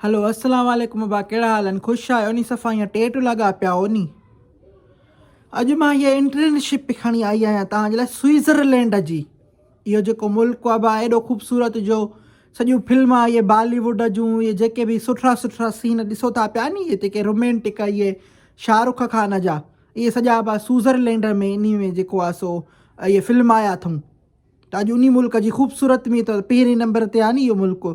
هلو السلام عليڪم ابا ڪهڙا حال آهن خوش آهيو ني صفا ايئن ٽيٽ لڳا پيا آهو ني اڄ مان هيء انٽرنشپ کڻي آئي آهيان توهان جي لاء سوئزرلينڊ جي اهو جيڪو ملڪ آهي با ايڏو خوبصورت جو سڄيون فلم اهي بالي ووڊ جون اهي جيڪي به سٺا سٺا سين ڏسو ٿا پيا ني اهي جيڪي رومانٽڪ اهي شاهه رخ خان جا اهي سڄا با سوئزرلينڊ ۾ انهي ۾ جيڪو آهي سو اهي فلم آيا اٿئون ته اڄ انهي ملڪ جي خوبصورت ۾ ته پهرين نمبر تي آهي نه اهو ملڪ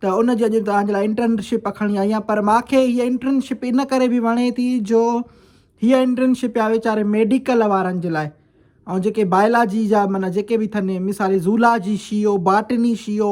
ته ان جي اڄ توهان جي لاء انٽرنشپ اکڻي آئي آهيان پر ماکي هيء انٽرنشپ ان ڪري به وڻي ٿي جو هيء انٽرنشپ آهي ويچاري ميڊيڪل وارن جي لاء ۽ جيڪي بايلاجي جا معنيٰ جيڪي به اٿن مثال زولاجي شيو باٽني شيو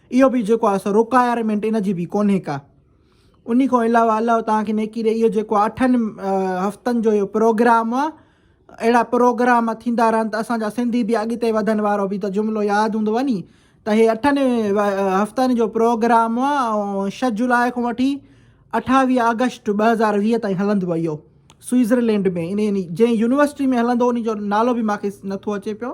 اهو به جيڪو آهي سو روڪائرمينٽ ان جي به ڪونهي ڪا. انهي کان علاوه الله توهان کي نيڪي ڏي اهو جيڪو اٺن هفتن جو اهو پروگرام آهي اهڙا پروگرام ٿيندا رهن ته اسان جا سنڌي به اڳتي وڌن وارو به ته جملو ياد هوندو ني ته هي اٺن هفتن جو پروگرام آهي ۽ شھ جولاء کان وٺي اٺاويهه آگسٽ ٻه هزار ويهه تائين هلندو اهو سوئزرلينڊ ۾ ان جنهن يونيورسٽي ۾ هلندو ان جو نالو به ماکي نٿو اچي پيو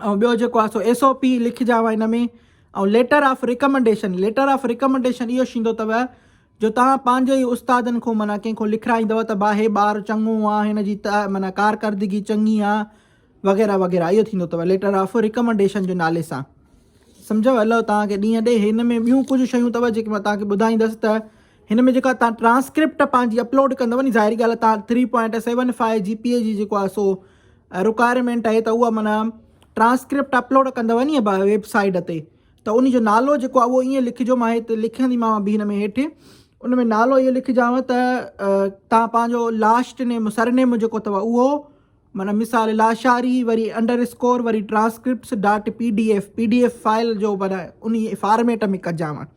۽ ٻيو جيڪو آهي سو ايس او پي لکجاو هن ۾ ۽ letter of recommendation letter of recommendation اهو شيندو تؤ جو توهان پنهنجي ئي استادن کون معنيٰ ڪنهن کون لکرائيندؤ ته با هي ٻار چڱو آهي هن جي ته معنيٰ ڪارڪردگي چڱي آهي وغيره وغيره اهو ٿيندو تؤ ليٽر آف ريڪمنڊيشن جو نالي سان سمجهو الله توهان کي ڏينهن ڏي هن ۾ ٻيون ڪجهه شيون تؤ جيڪي مان توهان کي ٻڌائيندس ته هن ۾ جيڪا توهان ٽرانسڪرپٽ پنهنجي اپلوڊ ڪندؤ ني ظاهري ڳالهه توهان three point seven five G P A جي جيڪو آهي سو رڪوائرمينٽ آهي ته اها معنيٰ ٽرانسڪرپٽ اپلوڊ ڪندو ني ويب سائيڊ تي ته ان جو نالو جيڪو آهي اهو ائين لکجو مان هتي لکنديمانو به هن ۾ هيٺ ان ۾ نالو اهو لکجانو ته تان پنهنجو لاسٽ نيم سر نيم جيڪو اٿو اهو معنيٰ مثال لاشاري وري انڊر اسڪور وري transcripts dot P D F P D F file جو معنيٰ ان فارميٽ ۾ ڪجانو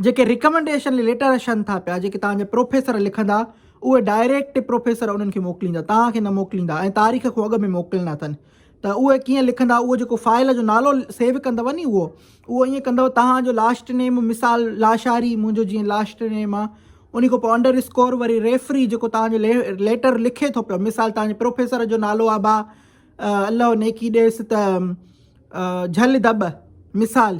جيڪي رڪمنڊيشن ليٽر اچن ٿا پيا، جيڪي توهان جا پروفيسر لکندا، اهي ڊائريڪٽ پروفيسر انهن کي موڪليندا، توهان کي نه موڪليندا ۽ تاريخ کان اڳ ۾ موڪلڻا اٿن. ته اهي ڪيئن لکندا، اهو جيڪو فائل جو نالو سيو ڪندؤ ني اهو، اهو ائين ڪندؤ توهان جو لاسٽ نيم مثال لاشاري منهنجو جيئن لاسٽ نيم آ، انهي کان پوء انڊر اسڪور وري ريفري جيڪو توهان جو ليٽر لکي ٿو پيو، مثال توهان جي پروفيسر جو نالو آ با الله نيڪي ڏيس ته جهل دٻ مثال،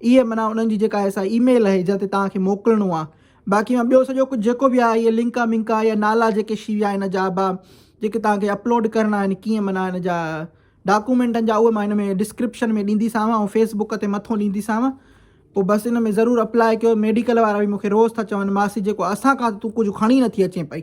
اهي معنيٰ انهن جي جيڪا ايسا اي ميل اهي جنهن تي توهان کي موڪلڻو آ باقي مان ٻيو سڄو ڪجهه جيڪو به آ اهي لنڪا منڪا يا نالا جيڪي شي ويا ان جا با جيڪي توهان کي اپلوڊ ڪرڻا آهن ڪيئن معنيٰ ان جا ڊاڪومينٽن جا اهي مان هن ۾ ڊسڪرپشن ۾ ڏيندي سانو ۽ فيس بڪ تي مٿو ڏيندي سانو پو بس ان ۾ ضرور اپلاء ڪيو ميڊيڪل وارا به مونکي روز ٿا چون ماسي جيڪو اسان کان ته تون ڪجهه کڻي نٿي اچين پئي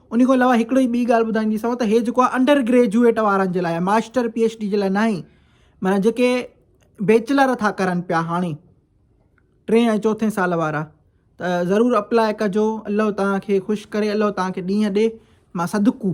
ان کان علاوه هڪڙي ٻي ڳالهه ٻڌائينديسانو ته هي جيڪو آهي انڊر گريجوئيٽ وارن جي لاء آهي ماسٽر پي ايڇ ڊي جي لاء ناهي معنيٰ جيڪي بيچلر ٿا ڪرن پيا هاڻي ٽئين ۽ چوٿين سال وارا ته ضرور اپلاء ڪجو الله توهان کي خوش ڪري الله توهان کي ڏينهن ڏي ماسان دڪو